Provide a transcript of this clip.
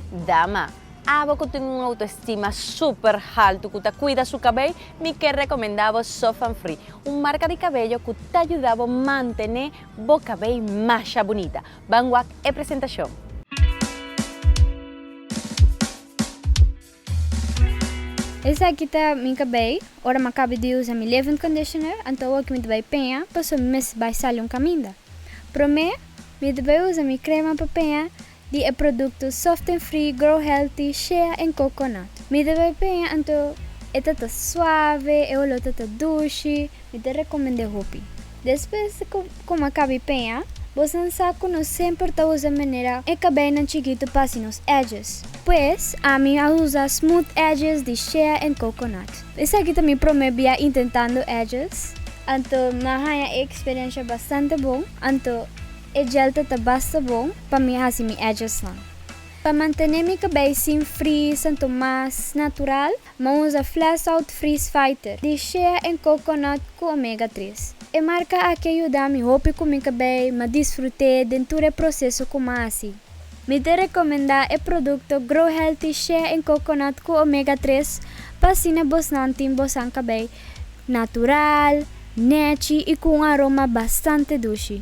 Dama, Abo cu tin un autoestima super haltu cu ta cuida su cabey, mi ker recomenda bo Sofan Free, un marca di cabello cu ta yuda bo mantene bo cabey masha bunita. Ban wak e presentacion. Esaki ta mi ka bay, ora mi a caba di usa mi levend conditioner anto awo ki mi ta bay peña paso mi mes bay sali un caminda. Prome mi ta bay usa mi crema pa peña di e producto Soft and Free Grow Healthy Shea and Coconut. Mi ta bay peña anto e ta ta suave, e olor ta ta dushi. Mi ta rekomend'é hopi. Despues di ku Kom a Kabi Peña, bo san sa ku nos semper ta usa manera e kabeinan chikitu pa hasi nos edges. Pues, ami a usa Smooth Edges di Shea and Coconut. Esaki ta mi promé bia intentando edges, anto m'a haña e eksperiensha bastante bon, anto e gel ta ta basta bon pa mi hasi mi edgesnan. Pa mantené mi kabei sin frizz anto mas natural, Mo usa Flasout Freeze Fighter di shea en coconut cu omega tres. E marca aki a yuda mi hopi cu mi ca bay ma disfrute den tur e proceso cu ma haci. Mi ta recomenda e producto Grow Healthy Shea en Coconut cu Omega tres pa asina bosnan tin bosan cabey natural, nechi y cu un aroma bastante dushi.